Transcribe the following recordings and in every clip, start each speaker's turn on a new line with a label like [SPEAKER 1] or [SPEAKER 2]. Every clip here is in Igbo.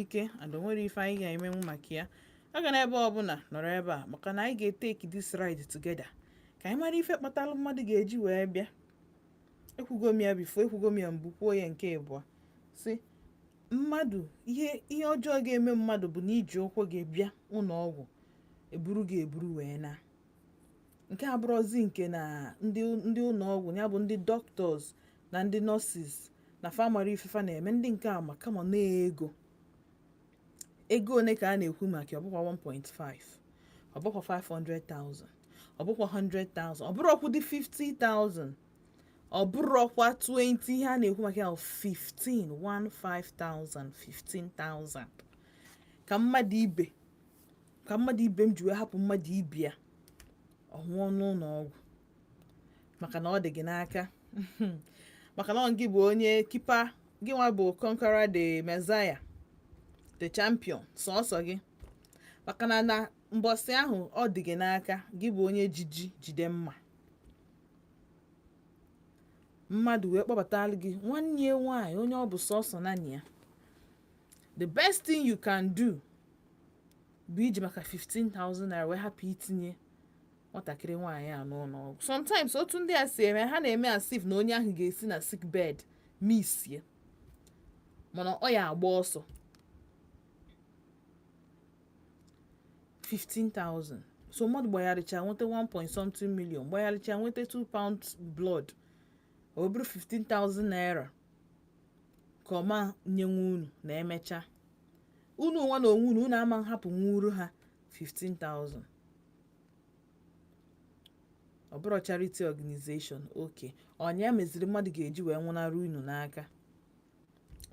[SPEAKER 1] ike and o nwere ife anyị ga-emenwu maka ya agana ebe ọbụla nọrọ ebe a maka na anyị ga-etake this ride together ka anyị mara ife kpatalụ mmadụ ga-eji wee bịa ekwugo m ya before ekwugo m ya mbụ kwuo ya nke ịbụọ sị mmadụ ihe ọjọọ ga-eme mmadụ bụ na i ji ụkwụ gị bịa ụnọ ọgwụ e buru gị eburu wee na nke a bụrụzi nke na ndị ụnọ ọgwụ ya bụ ndị doctors na ndị nurses na fa mara ife fa na-eme ndị nke a ma kama na ego ego one ka a na-ekwu maka ya? ọ bụkwa 1.5 ọ bụkwa 500,000 ọ bụkwa 100,000 ọ bụrụkwọdị 50,000 ọ bụrụkwa 20 ihe a na-ekwu maka ya bụ 15 15,000 15,000 ka mmadụ ibe ka mmadụ ibe m ji wee hapụ mmadụ ibe ya ọ nwụọ n'ụnọ ọgwụ maka na ọ dị gị n'aka maka na ọ gị bụ onye kipa gị nwa bụ conqueror the messiah the champion sọsọ gị maka na na mbọsị ahụ ọ dị gị n'aka gị bụ onye ji ji jide mma mmadụ wee kpọbatara gị nwanne ya nwaanyị onye ọ bụ sọsọ naanị ya the best thing you can do bụ iji maka 15,000 naira wee hapụ itinye nwatakịrị nwaanyị a n'ụnọ ọgwụ sometimes otu ndị a si eme ha na-eme as if na onye ahụ ga-esi na sick bed misie mana ọ ya-agba ọsọ 15,000 so mmadụ gbagharịcha nweta 1 point something million gbagharịcha nweta 2 pint blood ọ bụrụ 15,000 naira ka ọ ma nyenwu unu na e mecha unu nwa na onwe unu unu ama nhapụnwuru ha 15,000 ọ bụrụ charity organization okay ọ nya meziri mmadụ ga-eji wee nwụnara unu n'aka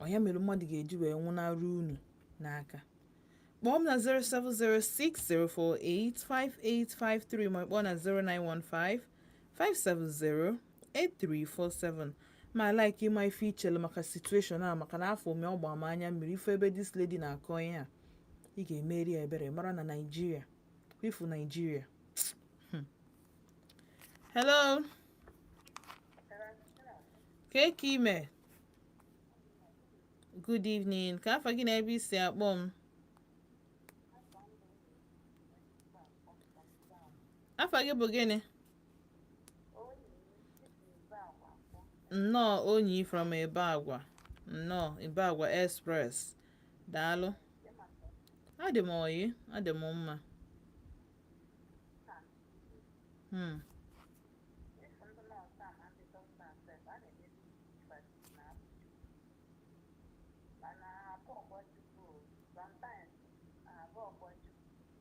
[SPEAKER 1] ọ nya mere mmadụ ga-eji wee nwụnara unu n'aka kpọọ m na 07060485853 ma kpọọ na 0915 570 8347 m ya-like ịma ife i chelu maka situation a maka na afọ ome ọ gbaa m anya mmiri ị fụ ebe this lady na-akọ ihe a ị ga-emere ya ebere mara na Naịjirịa ị fụ Naịjirịa Hmm. hello kee ka i me good evening kee afa gị na ebe i si akpọ m afa gị bụ gịnị nnọọ onyi from ibagwa nnọọ ibagwa express daalụ adị m oyi adị m mma hmm.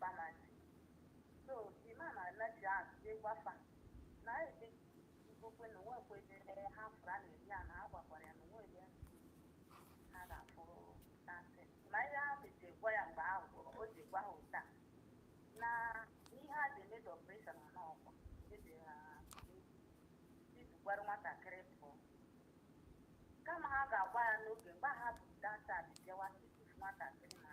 [SPEAKER 2] Bamandi. So the man anaghị azụje gwafa na ebe ikokwe na onwe kwedere ha fụrụ a na-eri ya na ha gwakwara ya na onwe ebe ha ga-afụrụ dasị. Ma ihe ahụ ji gwa ya mgbe ahụ gwụrụ, o ji gwa ha ụta na ihe a ji emedo operation na n'ọkwa eji ha izugwara nwatakịrị pụọ. Kama ha ga-agwa ya n'oge mgbe ha bụ data bịawa tupu nwatakịrị na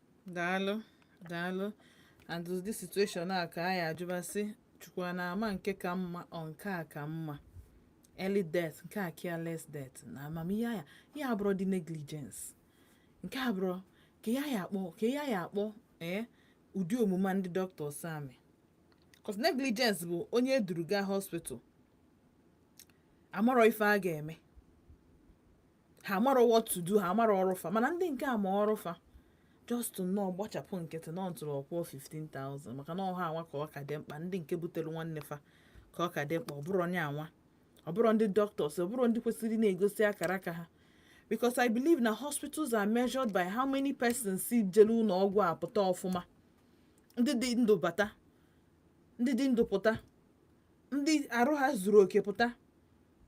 [SPEAKER 2] daalụ
[SPEAKER 1] daalụ and ụdị situation a ka anyị ajụba sị chukwu na ama nke ka mma ọ nke a ka mma early death nke a careless death na amamihe ya ya abụrụ the negligence nke a bụrụ ka ya ya akpọ ka ya ya akpọ ee eh, ụdị omume ndị doctors a mee cos negligence bụ onye e duru gaa hospital amarọ ife a ga-eme ha amarọ what to do ha amarọ ọrụ fa mana ndị nke a ma ọrụ fa just nnọọ gbachapụ nkịtị na ntụrụ ọ kwụọ 15,000 maka na ọ ha nwa ka ọ ka dị mkpa ndị nke butere nwanne fa ka ọ ka dị mkpa ọ bụrọ onye anwa ọ bụrọ ndị doctors ọ bụrọ ndị kwesịrị na-egosi akara aka ha because i believe na hospitals are measured by how many persons si jere ụlọ ọgwụ apụta ọfụma ndị dị ndụ bata ndị dị ndụ pụta ndị arụ ha zuru oke pụta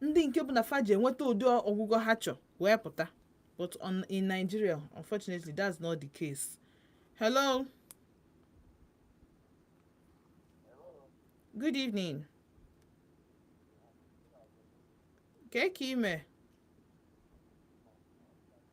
[SPEAKER 1] ndị nke bụ na fa jee nweta ụdị ọgwụgwọ ha chọ wee pụta but in Nigeria unfortunately that's not the case hello good evening ka i me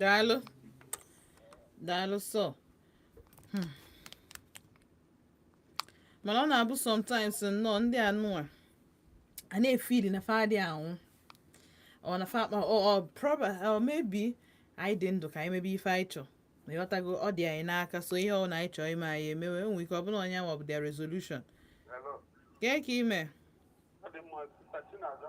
[SPEAKER 1] daalụ daalụ so Hmm. mana ọ na-abụ sometimes nnọọ ndị anwa na-efeel na fa adị anwụ ọ na fa akpa ọ or proba or maybe anyị dị ndụ ka anyị mebe ife anyị chọ ma ịghọtago ọ dị anyị n'aka so ihe ọ na anyị chọọ ime anyị emewe enwe ike ọ bụla onye nwa bụ their resolution Hello. kee ka i me Ọ dị mma, sir Chinaza.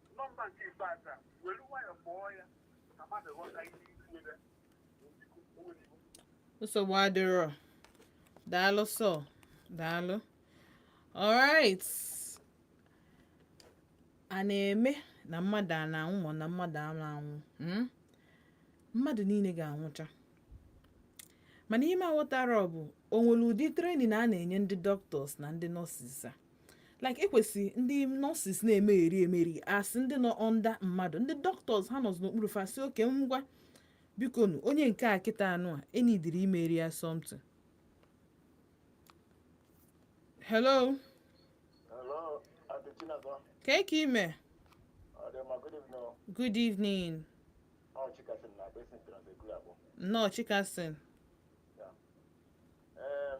[SPEAKER 1] nọmba nke ikpeazụ a were nwayọọ kpọọ ya ka mmadụ ghọta ihe ikwu ebe o nwere iwu nsogbu adịrọ daalụ sọ daalụ alright a na-eme na mmadụ a na-anwụ ma na mmadụ a na-anwụ mm? mmadụ niile ga-anwụcha mana ihe m aghọtarọ bụ o nwere ụdị training a na-enye ndị doctors na ndị nurses a like ekwesị ndị nurses na-emegheri emeri a sị ndị nọ under mmadụ ndị doctors ha nọzi n'okpuru fa sị okay ngwa biko nu onye nke a kịta anụ a enidiri imere ya something hello Hello, Aunty Chinazọ. kee ka i mee Ọ dị mma, good evening. o. good evening Ọ Chika sị m na Basin Trans Ekulu akpọ. nnọọ chikasin Em,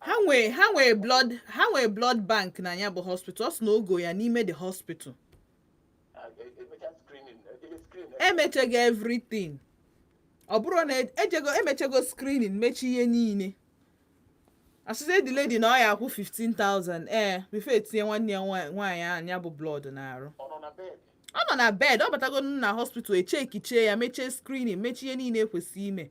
[SPEAKER 1] ha nwee ha nwee blood ha nwee blood bank na ya bụ hospital ọ sị na ọ gọ ya n'ime the hospital emechago everything ọ bụrụ na ejego emechago screening mechi ihe niile a sịzị the lady na ọ ya akwụ 15,000 ee before etinye nwanne ya nwaanyị ya bụ blood n'arụ ọ nọ na bed ọ batago na hospital echekichee ya mechie screening mechie ihe niile ekwesị ime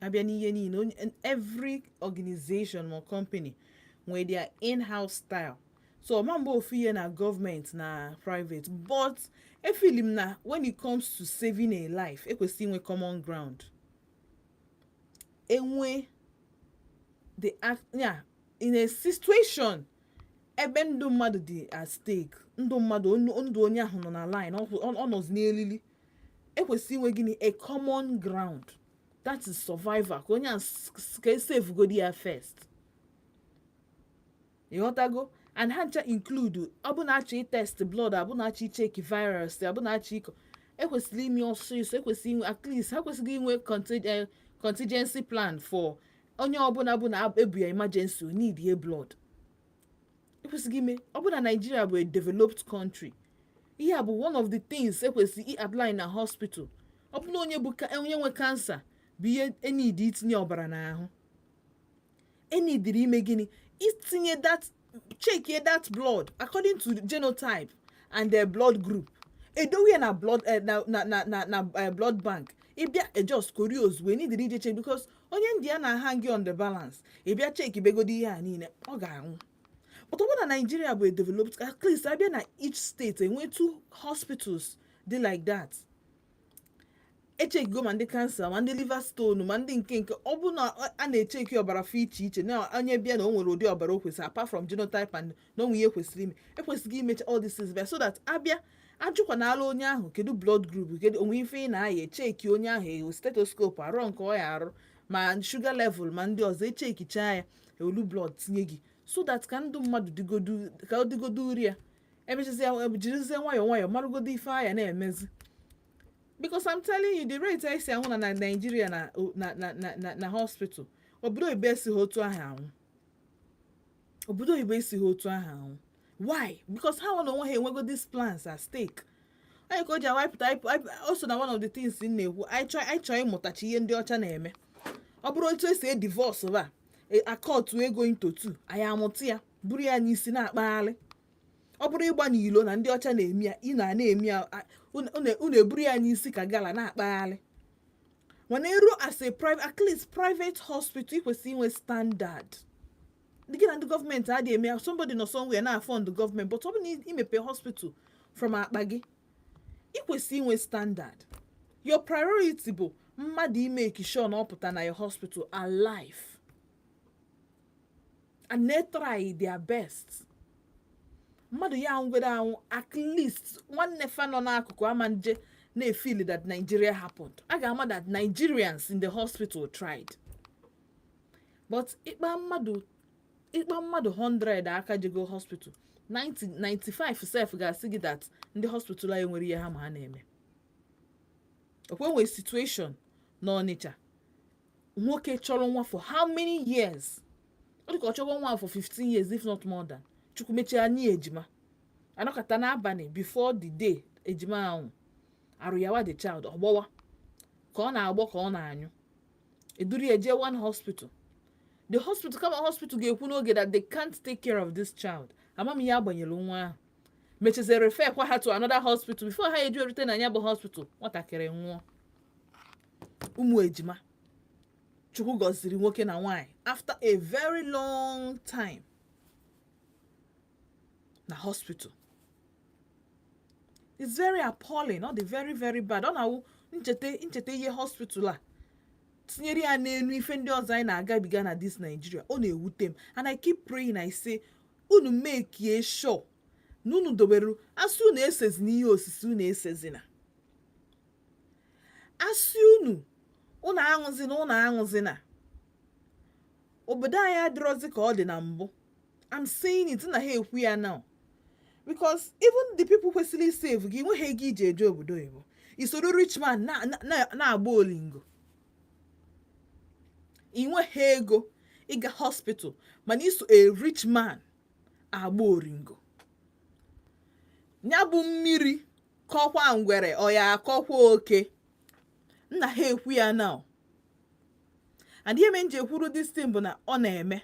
[SPEAKER 1] abịa n'ihe niile every organization or company nwere their in-house style so ọma mgbe ofu ihe na gọọmenti na private but efili m na when it comes to saving a life ekwesịrị inwe common ground enwe the act yeah, in a situation ebe ndụ mmadụ dị at stake ndụ mmadụ ndụ onye ahụ nọ na line ọ nọzi n'elili ekwesị inwe gịnị a common ground that is survival ka onye a s- s- ka esevugodi ya first ị ghọtago and ha ncha include ọ bụ na a chọ itest blood ọ bụ na a chọ icheki virus ọ bụ na a chọ ịkọ ekwesịrị ime ọsịsọ ekwesịrị inwe at least ha kwesịrị inwe conti- eh, contingency plan for onye ọbụla bụ na ebu ya emergency o needie blood ekwesịrị ime ọ bụ na Nigeria bụ a developed country ihe a bụ one of the things ekwesịrị i-apply na hospital ọ bụ na onye bụ ka- onye nwe kansa bịa enidi itinye ọbara n'ahụ enidiri ime gịnị itinye that chekie that blood according to genotype and their blood group edowe ya na blood eh, na na na na na eh, blood bank ị bịa e just kori ozugbo enidirọ ije check because onye ndụ ya na-ahangị on the balance ị bịa chekibegodi ihe a niile ọ ga-anwụ but ọ bụ na Nigeria bụ a developed at least abịa na each state enwe two hospitals dị like that echekigo ma ndị kansa ma ndị liver stone ma ndị nke nke ọ bụ na a na-echeki ọbara fa iche iche na onye bịa na o nwere ụdị ọbara o kwesịrị apart from genotype and na o nwe ihe kwesịrị ime e kwesịrị imecha all these things so that abịa ajụkwanala onye ahụ kedu blood group kedu o nwe ife ị na-aya echeki onye ahụ ewelu stethoscope arụ nke ọ ya arụ ma sugar level ma ndị ọzọ echekicha ya ewelu blood tinye gị so that ka ndụ mmadụ dịgodu ka ọ dịgodu uri ya emechazia jirizie nwayọọ nwayọọ marụgodo ife a ya na-emezi because I'm telling you the rate anyị si anwụ na na Nigeria na na na na na hospital obodo oyibo esighị otu ahụ anwụ obodo oyibo esighị otu ahụ anwụ why because ha nwa na onwe ha enwego these plans at stake anyị ka o ji awapụta o so na one of the things m na-ekwu anyị chọọ anyị chọọ ịmụtachi ihe ndị ọcha na-eme ọ bụrụ otu esi edivorce ba akọtụ ego into two anyị amụta ya buru ya n'isi na-akpagharị ọ bụrụ ịgba n'ilo na ndị ọcha na-eme ya ị na na-eme ya unu eburu ya n'isi ka gala na-akpagharị mana eru as a private at least private hospital ị kwesịrị inwe standard gị na ndị gọọmenti adịghị eme ya somebody nọ somewhere na-afund gọọmenti but ọ bụ na i mepe hospital from akpa gị ị kwesịrị inwe standard your priority bụ mmadụ imeki sure na ọ pụta na your hospital alive and they try their best mmadụ ya anwụgodu anwụ at least nwanne fa nọ n'akụkụ ama nje na-efili that Nigeria happened a ga-ama that Nigerians in the hospital tried but ịkpa mmadụ ịkpa mmadụ 100 aka jego hospital 95 sef ga-asị gị that ndị hospital anyị enwerọ ihe ha ma ha na-eme ọ kwa e nwe situation na Ọnịcha nwoke chọrọ nwa for how many years ọ dịka ọ chọrọ nwa for 15 years if not more than chukwu mechaa nye ya ejima anọkata n'abalị before the day ejima ahụ arụ yawa the child ọgbọwa ka ọ na-agbọ ka ọ na-anyụ eduru ya jee one hospital the hospital kama hospital ga-ekwu n'oge that they can't take care of this child amam ihe agbanyere nwa ahụ mechazie refer kwa ha to another hospital before ha eji erute na ya bụ hospital nwatakịrị nwụọ ụmụ ejima chukwu gọziri nwoke na nwaanyị after a very long time na hospital it's very appalling ọ dị very very bad ọ na-awụ m cheta m cheta ihe hospital a tinyere ya n'elu ife ndị ọzọ anyị na-agabiga na this Nigeria ọ na-ewute m and I keep praying I say unu mekie sure na unu dobere a sị unu esezina ihe osise unu esezina asị unu unu aṅụzina unu aṅụzina obodo anyị adịrọzi ka ọ dị na mbụ I'm saying it na ha ekwu ya now because even the people kwesịrị isave gị i nweghị ego iji eje obodo oyibo i soro rich man na-agba oringo i nweghị ego ịga hospital mana i so a rich man agba oringo ya bụ mmiri kọkwa ngwere ọ ya akọkwa oke nna ha ekwu ya now and ihe me nji ekwuru this thing bụ na ọ na-eme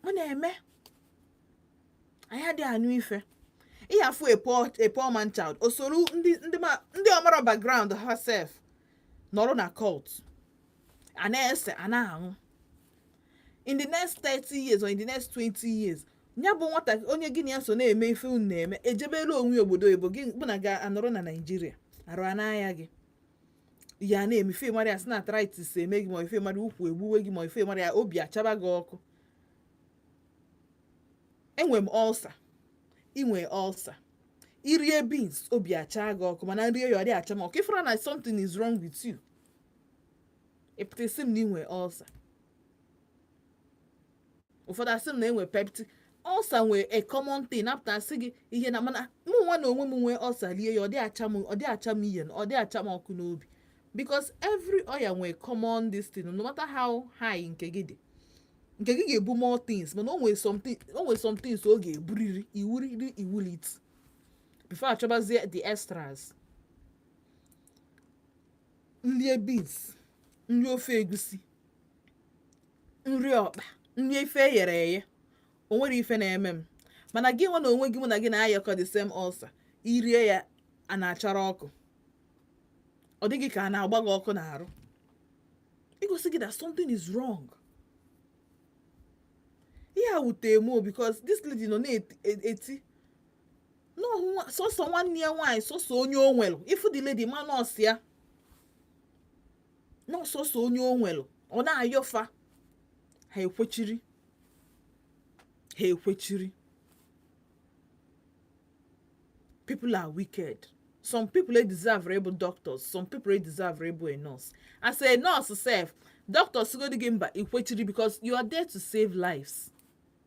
[SPEAKER 1] ọ na-eme anyị adịghị anụ ife ị ya-afụ a poor man child o soro ndị ọ marọ background ha sef nọrọ na cult a na-ese a na-aṅụ in the next 30 years or in the next 20 years ya bụ nwata onye gị na ya so na-eme ife unu na-eme ejebela onwe ya obodo oyibo gị bụ na ga-anọrọ na Nigeria arụ a na-aya gị ya na-eme ife mara ya sị na arthritis eme gị ma ife mara ukwu egbuwe gị ma ife mara ya obi achaba gị ọkụ enwe m ulcer i nwe ulcer i rie beans obi achaa gị ọkụ mana nrie ya ọ dị acha m ọkụ ị fụra na something is wrong with you ị pụta ịsị m na i nwe ulcer ụfọdụ asị m na enwe peptic ulcer nwee a common thing na-apụta asị gị ihe na mana mụ nwa na onwe m nwee ulcer lie ya ọ dị acha m ọ dị acha m ihe ọ dị acha m ọkụ n'obi because every ọya nwee common this thing no matter how high nke gị dị nke gị ga-ebu more things mana o nwee something o nwee some things ọ ga-eburiri iwuriri iwulit before achọbazie the extras nlie beans nrie ofe egusi nrie ọkpa nrie ife e ghere eghe o nwere ife na-eme m mana gị nwa na onwe gị mụ na gị na-ayakọ the same ulcer i rie ya a na-achara ọkụ ọ dị gị ka a na-agba gị ọkụ n'arụ igosi gị that something is wrong ihe a wute m o because this lady nọ na-eti na ọ sọsọ nwanne ya nwaanyị sọsọ onye o nwere ị fụ the lady ma na ọ sọ ya na ọ sọsọ onye o nwere ọ na-ayọ fa ha ekwechiri ha ekwechiri people are wicked some people e deserve ịbụ doctors some people e deserve ịbụ a nurse as a nurse sef doctor sịgodi gị mba i kwechiri because you are there to save lives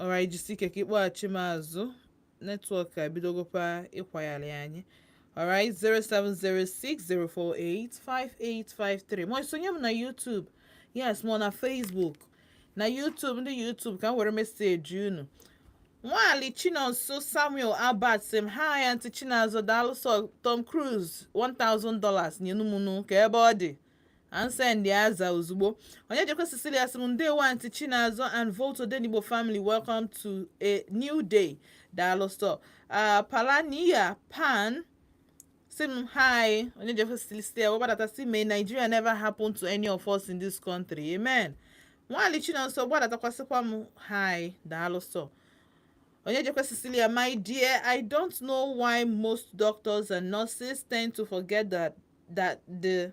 [SPEAKER 1] alright jisi ike ka ịkpọghachi m azụ netwọk abidogokwa ịkwagharị anyị alright 07060485853 ma isonye m na YouTube yes ma na Facebook na YouTube ndị YouTube ka m were meseji unu nwaali chinonso samuel albert sị m hi anti chinazọ daalụ sọ tom cruise $1000 nyenụ mụ nụ kee ebe ọ dị and send aza ozugbo Onyejekwe Cecilia sị m ndewo anti Chinazọ and Volt Odenigbo family welcome to a new day daalụ sọ Palania Pan sị m hi Onyejekwe Cecilia wee gbadata sị may Nigeria never happen to any of us in this country amen nwaali Chinonso gbadatakwa sịkwa m hi daalụ sọ Onyejekwe Cecilia my dear I don't know why most doctors and nurses tend to forget that that the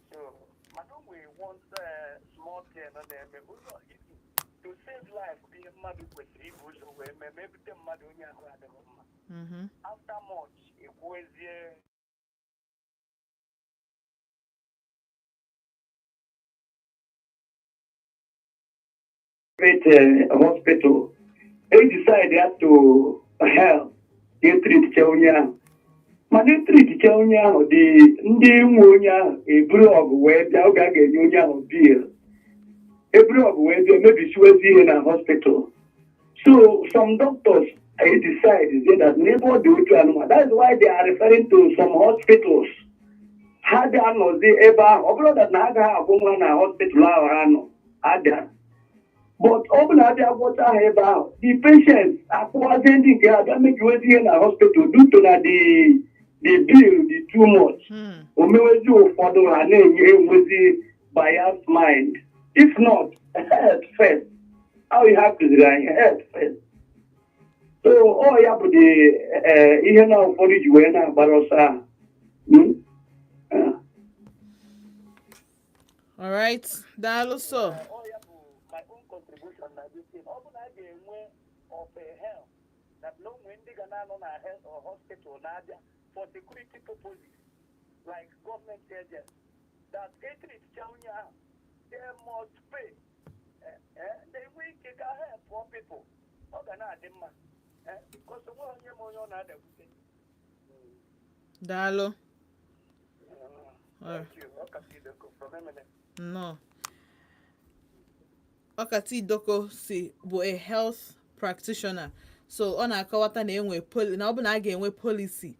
[SPEAKER 3] mmadụ kwesịrị ibu ụzọ wee mee ma ebute mmadụ onye ahụ adịghị mma mm-hmm.
[SPEAKER 1] after much
[SPEAKER 3] ekwuezie
[SPEAKER 4] private uh, hospital they decided to help ka etreatchaa onye ahụ mana etreatchaa onye ahụ the ndị nwe onye ahụ eburu ọgụ wee bịa oge a ga-enye onye ahụ bill eburu ọgụ wee bịa mebisiwezi ihe na hospital so some doctors edecidezi that never do it anymore that's why they are referring to some hospitals ha ga-anọzi ebe ahụ ọ bụrụ na ha agaghị agwọnwu ya na hospital ahụ ha nọ abịa but ọ bụ na a bịa gwọta ha ebe ahụ the patient akpọwazị ndị nke ha abịa mebiwezi ihe na hospital due to na the the bill dị too much Hmm. o mewezi ụfọdụ ha na-enwewezi biased mind if not health first ahụ ihe a kụziri anyị health first so ọ ya bụ the eh, ihe na ụfọdụ ji wee na-agbara ọsọ ahụ Hmm? Eh.
[SPEAKER 1] alright daalụ sọ ọ ya bụ
[SPEAKER 3] my own contribution na this thing ọ bụ na a ga-enwe of a help that na o nwee ndị ga na-anọ na health or hospital na-abịa for security purposes like government agents that etreatchaa onye ahụ they must pay Eh, eh, they nwee ike ka help poor people ọ ga na-adị mma Eh, because o nwe onye ma onye ọ na-adakwute daalụ nnọọ
[SPEAKER 1] ọkata idoko sị ọ bụ a health practitioner so ọ na-akọwata na e nwee poli- na ọ bụ na a ga-enwe policy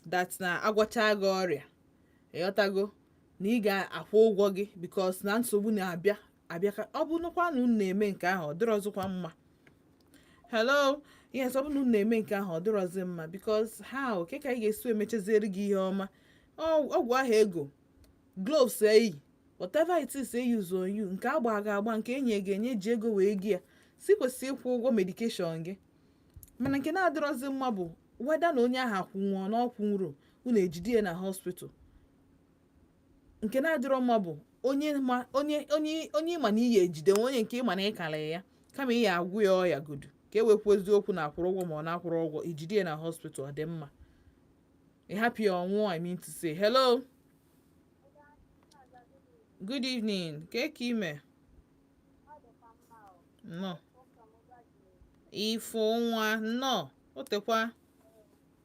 [SPEAKER 1] that na a gwọcha gị ọrịa ịghọtago na ị ga-akwụ ụgwọ gị because na nsogbu na-abịa abịa ka ọ bụrụkwa na unu na-eme nke ahụ ọ dịrọzikwa mma hello yes ọ bụ na unu na-eme nke ahụ ọ dịrọzi mma because how kee ka anyị ga-esi emechaziere gị ihe ọma ọgwụ ahụ e go gloves e yi whatever it is they use on you nke a gba gị agba nke e nye gị enye ji ego wee go ya so i kwesị ịkwụ ụgwọ medication gị mana nke na-adịrọzi mma bụ whether na onye ahụ akwụnwuo na ọ kwụnwurọ unu ejide ya na hospital nke na-adịrọ mma bụ onye ma onye onye onye ị ma na ị ya-ejidenwu onye nke ị ma na ị kara ya kama ị ya-agwọ ya ọya godu ka e wee kwuzie okwu na akwụrụ ụgwọ ma ọ na akwụrọ ụgwọ ijide ya na hospital ọ dị mma ị hapụ ya ọ nwụọ i mean to say hello good evening kee ka ị me nnọọ ifo nwa nnọọ o tekwa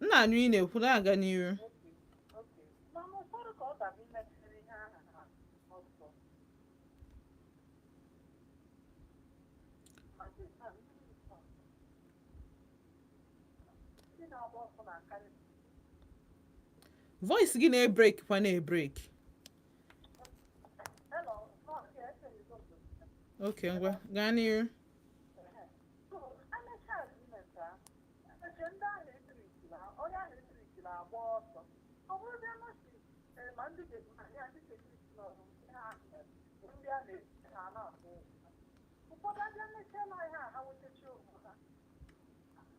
[SPEAKER 1] m na-anụ ị na-ekwu na-aga n'iru voice gị na-ebreak kwa na-ebreak ok ngwa gaa n'iru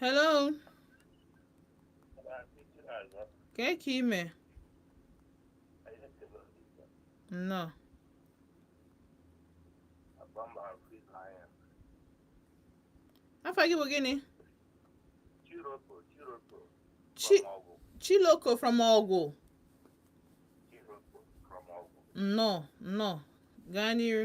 [SPEAKER 1] hello kee ka ị me nnọọ afa gị bụ gịnị chiloko from ọgwụ nnọọ nnọọ gaa n'iru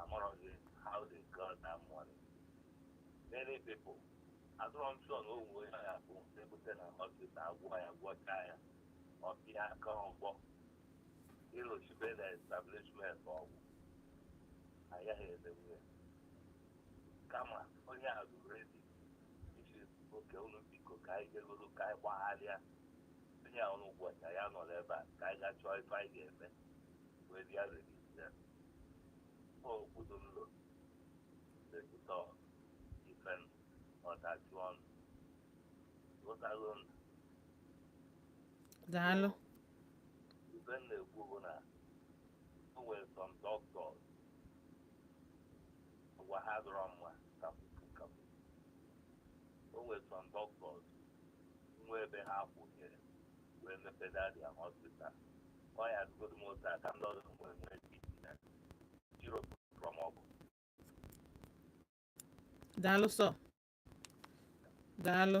[SPEAKER 5] amaghị how they got that money many people azụrụ m sọ na onwe ya ya bụ ebute na hospital agwọ ya gwọcha ya ọ bịa aka ọgbọ ịlụchibe na establishment ọgwụ agaghị emenwu ya kama onye a bụ ready ị sị okay ụlọ biko ka anyị gegoro ka anyị gbagharịa onye a ọrụ ụbọchị ya nọrọ ebe a ka anyị ga chọọ ife anyị ga-eme wee bịa register obodo m lụrụ register ife m ọdachi ọnụ ụtalụ m
[SPEAKER 1] daalụ
[SPEAKER 5] ife m na-ekwu bụ na o nwere some doctors agwa ha adịrọ mma kapupu kapu o nwere some doctors nwe ebe ha kwụnyere wee mepe dadi ahụ hospital ọ ya azụgodo m otu aka ndị ọzọ mgbe nwee pt na jiro from
[SPEAKER 1] ọgwụ daalụ sọ daalụ